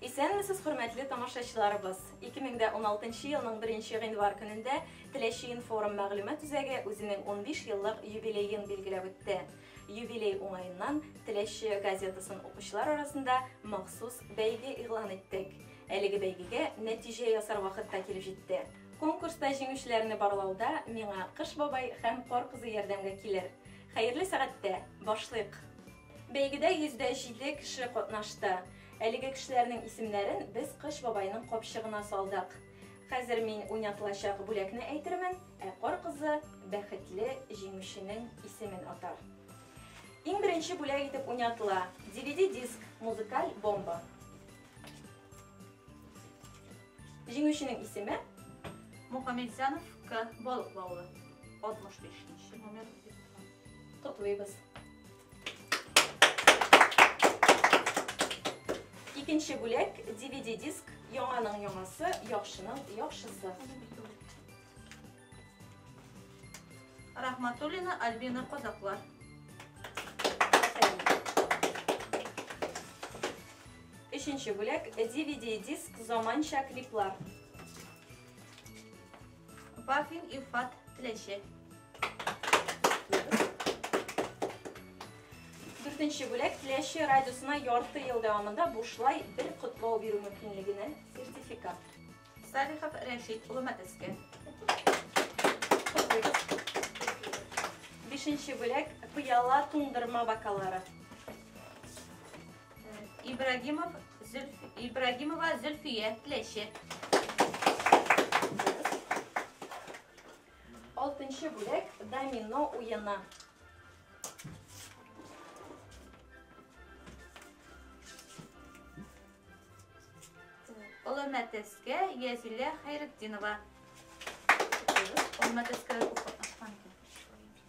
Исәнмесез, хөрмәтле тамашачыларыбыз! 2016 елның 1 гыйнвар көнендә Теләче информ мәгълүмат үзәге үзенең 15 еллык юбилеен билгеләп үтте. Юбилей уңаеннан Теләче газетасын укучылар арасында махсус бәйге игълан иттек. Әлеге бәйгегә нәтиҗә ясар вакыт та килеп җитте. Конкурста җиңүчеләрне барлауда миңа Кыш бабай һәм Кар кызы ярдәмгә килер. Хәерле сәгатьтә башлыйк! Бәйгедә 107 кеше катнашты. Әлеге кешеләрнең исемнәрен без Кыш бабайның капчыгына салдык. Хәзер мин уйнатылачак бүләкне әйтермен, ә Кар кызы бәхетле җиңүченең исемен атар. Иң беренче бүләк итеп уйнатыла DVD-диск, музыкаль бомба. Җиңүченең исеме? Мухаметзянов К. Балык бавы. 65 нче номер. Котлыйбыз. Икенче бүләк DVD диск, яңаның яңасы, яхшының яхшысы. Рахматуллина Альбина Козаклар. Өченче бүләк DVD диск, заманча клиплар. Вафин Илфат Теләче. Дүртенче бүләк Теләче радиосына ярты ел дәвамында бушлай бер котлау бирү мөмкинлегенә сертификат. Салихов Рәшит улы Мәтәскә. Бишенче бүләк пыяла туңдырма бакалары. Ибрагимов Зөлф... Ибрагимова Зөлфия Тләче. Алтынчы бүләк домино уена. Олы мәтәскә Язилә Хайретдинова. Олы мәтәскә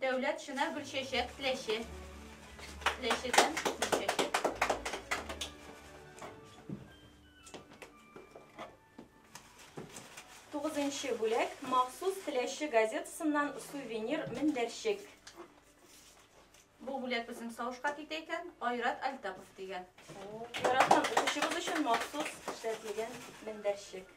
Дәүләт чына гөлчәчәк теләче. Теләчедән гөлчәчәк. Тугызынчы бүләк махсус теләче газетасыннан сувенир мендәрчек. Бу бүләк безнең савышка китә икән, Айрат Альтапов дигән. Яраткан укучыбыз өчен махсус эшләтелгән мендәрчек.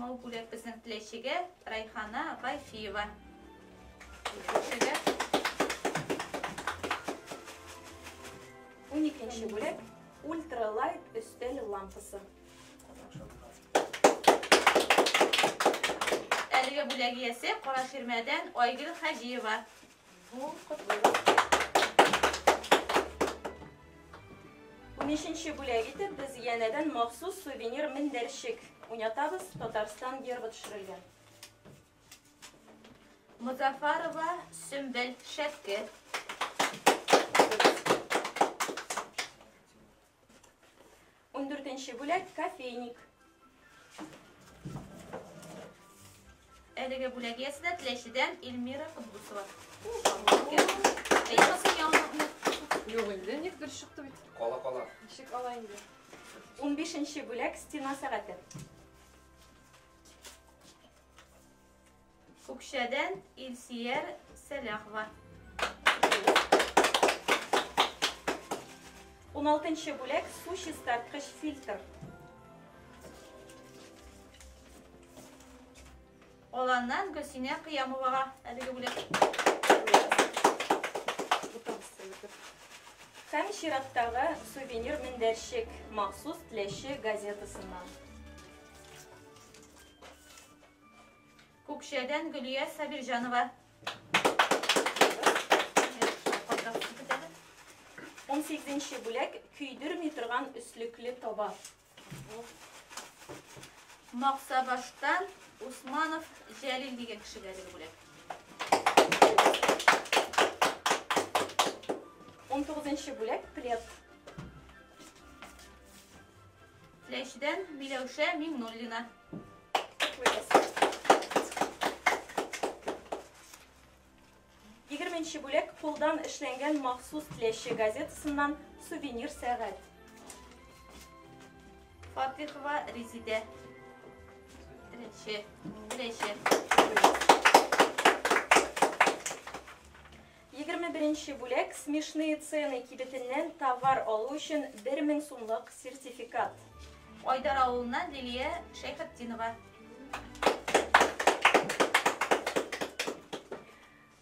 Мал бүләк безнең теләчегә Райхана Байфиева. Икенчегә. Уникенче бүләк ультралайт өстәл лампасы. Әлеге бүләк иясе Кара Ширмәдән Айгөл Хаҗиева. Унишенче бүләк итеп без янәдән махсус сувенир мендәрчек уйнатабыз, Татарстан гербы төшерелгән. Музафарова Сөмбел шәпке. Ундүртенче бүләк, кофейник. Әлеге бүләк иясе дә Теләчедән Эльмира Кудбусова. Әйбәсен яңгырны. Юк инде, ник дөрес чыкты бит. Кала кала. Ничек ала инде? Унбишенче бүләк, стена сәгате. Күкшәдән Илсияр Сәләхова. 16 бүләк су чистарткыч фильтр. Аланнан Гөлсинә Кыямовага әлеге бүләк. Һәм чираттагы сувенир мендәрчек махсус теләче газетасыннан. Күкшәдән Гөлия Сабирҗанова. Он сигезенче бүләк көйдерми торган өслекле таба. Максабаштан Усманов Җәлил дигән кешегә биреп бүләк. 19 бүләк плед. Ләшдән Миләүшә Миңнуллина. Егерменче бүләк кулдан эшләнгән махсус теләче газетасыннан сувенир сәгать. Фатихова Резидә. Теләче. Теләче. Егерме беренче бүләк, Смешные цены кибетеннән товар алу өчен бер мең сумлык сертификат. Айдар авылыннан Лилия Шәйхетдинова.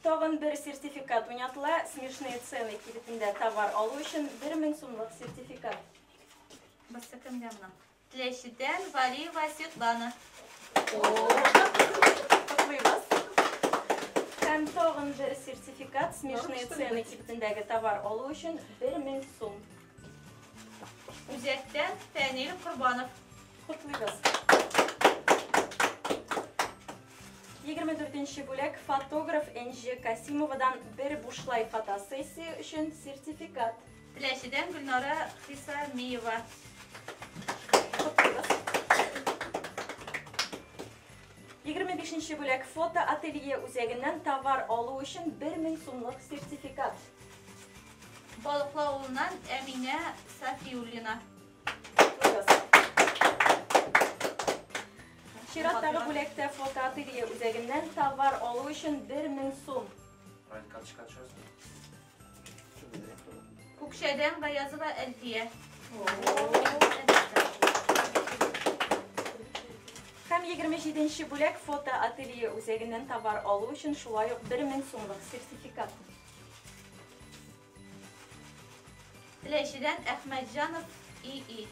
Тагын бер сертификат уйнатыла. Смешные цены кибетендә товар алу өчен бер мең сумлык сертификат. Басса кемгә мына? Теләчедән Валиева Светлана. Котлыйбыз. Һәм тагын бер сертификат смешные цены кибетендәге товар алу өчен 1000 сум. Үзәктән Фәнил Корбанов. Котлыйбыз. 24 бүләк фотограф Энҗе Касимовадан бер бушлай фотосессия өчен сертификат. Теләчедән Гөлнара Хисамиева. Котлыйбыз. 25-нче бүләк фото ателье үзәгеннән товар алу өчен 1000 сумлык сертификат. Балыклы авылыннан Әминә Сафиуллина. Чираттагы бүләктә фотоателье үзәгеннән товар алу өчен 1000 сум. Раль карточка төшәсең. Күкшәдән Гаязова Әлфия. Һәм 27 бүләк фото ателье үзәгеннән товар алу өчен шулай ук 1000 сумлык сертификат. Теләчедән Әхмәтҗанов ИИ.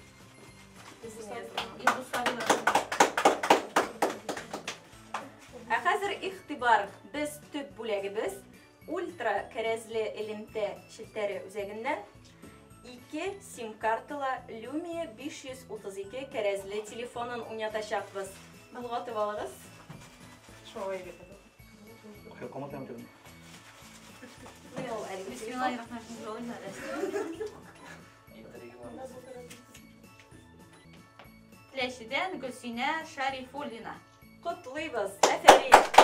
Ә хәзер игътибар, без төп бүләгебез Ультра кәрәзле элемтә челтәре үзәгеннән ике сим-карталы Lumia 532 кәрәзле телефонын уйнатачакбыз. Болгатып алыгыз. Шулай дип. Кая каматам тирен? Менә ул әлеге Бисмиллахи рахманир рахим. Теләчедән Гөлсинә Шарифуллина. Котлыйбыз! Әфәрин!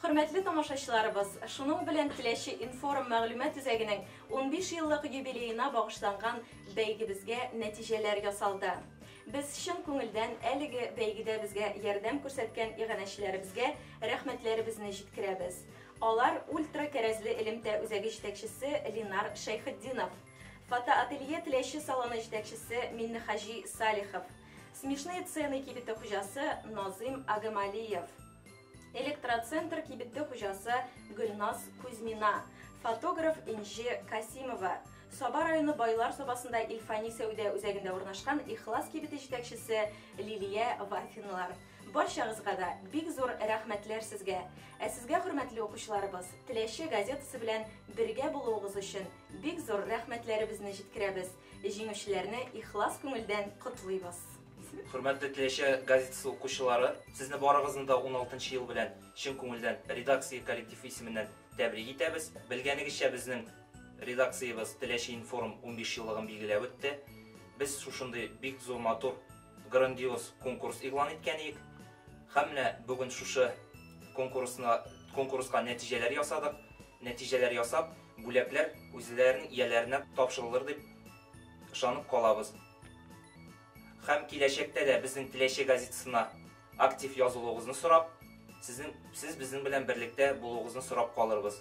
Хөрмәтле тамашачыларыбыз, шуның белән Теләче информ мәгълүмат үзәгенең 15 еллык юбилеена багышланган бәйгебезгә нәтиҗәләр ясалды. Без чын күңелдән әлеге бәйгедә безгә ярдәм күрсәткән иганәчеләребезгә рәхмәтләребезне җиткерәбез. Алар ультра кәрәзле элемтә үзәге җитәкчесе Линар Шәйхетдинов, Фотоателье Теләче салоны җитәкчесе Миннехаҗи Салихов, Смешные цены кибете хуҗасы Назыйм Агамалиев, Электроцентр кибете хуҗасы Гөлназ Кузьмина, фотограф Энҗе Касимова, Саба районы Байлар Сабасында Ильфани сәүдә үзәгендә урнашкан Ихлас кибете җитәкчесе Лилия Вафинлар. Барчагызга да бик зур рәхмәтләр сезгә! Ә сезгә, хөрмәтле укучыларыбыз, Теләче газетасы белән бергә булуыгыз өчен Бик зур рәхмәтләребезне җиткерәбез, җиңүчеләрне ихлас күңелдән котлыйбыз. Хөрмәтле Теләче газетасы укучылары, сезне барыгызны да 16 ел белән чын күңелдән редакция коллектив исеменнән тәбрик итәбез. Белгәнегезчә, безнең редакциябез Теләче информ 15 еллыгын билгеләп үтте. Без шушындый бик зур матур, грандиоз конкурс игълан иткән идек. Һәм менә бүген шушы конкурсны конкурска нәтиҗәләр ясадык. Нәтиҗәләр ясап, Бүләкләр үзләренең ияләренә тапшырылыр дип ышанып калабыз. Һәм киләчәктә дә безнең Теләче газетасына актив язылуыгызны сорап, сезнең сез безнең белән берлектә булуыгызны сорап калырбыз.